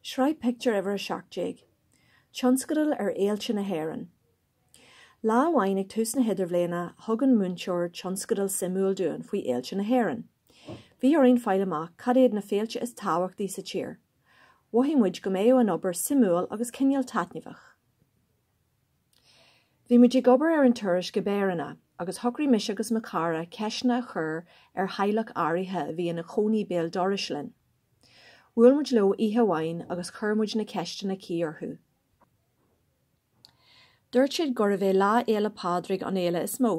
Sraith pictiúr uimhir a seacht déag. Tionscadal ar fhéilte na hÉireann. Lá amháin ag tús na hidirbhliana thug an múinteoir tionscadal suimiúil dúinn faoi fhéilte na hÉireann. Bhí orainn fáil amach cad iad na féilte is tábhachtaí sa tír. Mhothaigh muid go mbeadh an obair suimiúil agus cineál taitneamhach. Bhí muid ag obair ar an tasc i bpéireanna, agus shocraigh mise agus mo chara ceisteanna a chur ar theaghlach áirithe a bhí ina chónaí béal dorais linn. Bhuail muid leo oíche amháin agus chuir muid na ceisteanna cuí orthu. Dúirt siad gurbh é Lá Fhéile Pádraig an fhéile is mó.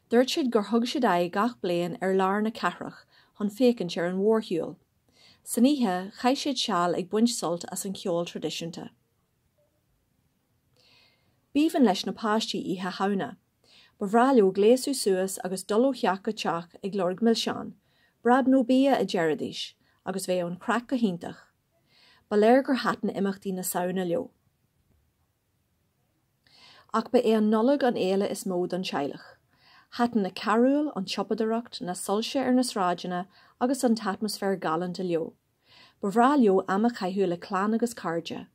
Dúirt siad gur thug siad aghaidh gach bliain ar lár na cathrach chun féachaint ar an mhórshiúl. San oíche, chaith siad seal ag baint sult as an cheol traidisiúnta. B'aoibhinn le na páistí Oíche Shamhna. Ba bhreá leo gléasadh suas agus dul ó theach go teach ag lorg milseán. Bob nó bia, a deiridís, agus bheadh an chraic go hiontach. Ba léir gur thaitin imeachtaí na Samhna leo. Ach ba é an Nollaig an fhéile is mó don teaghlach. Thaitin na carúil, an tsiopadaireacht, na soilse ar na sráideanna agus an t-atmaisféar galánta leo. Ba bhreá leo am a chaitheamh le clann agus cairde.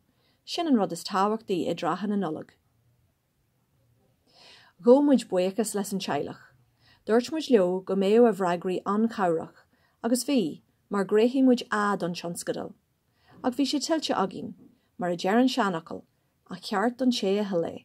Sin an rud is tábhachtaí i dtrátha na Nollag. Ghabh muid buíochas leis an teaghlach. Dúirt muid leo go mbeadh a bhfreagraí an-chabhrach, agus bhí, mar ghnóthaigh muid A don tionscadal. Ach bhí sé tuillte againn, mar a deir an seanfhocal, A cheart don té a thuill é.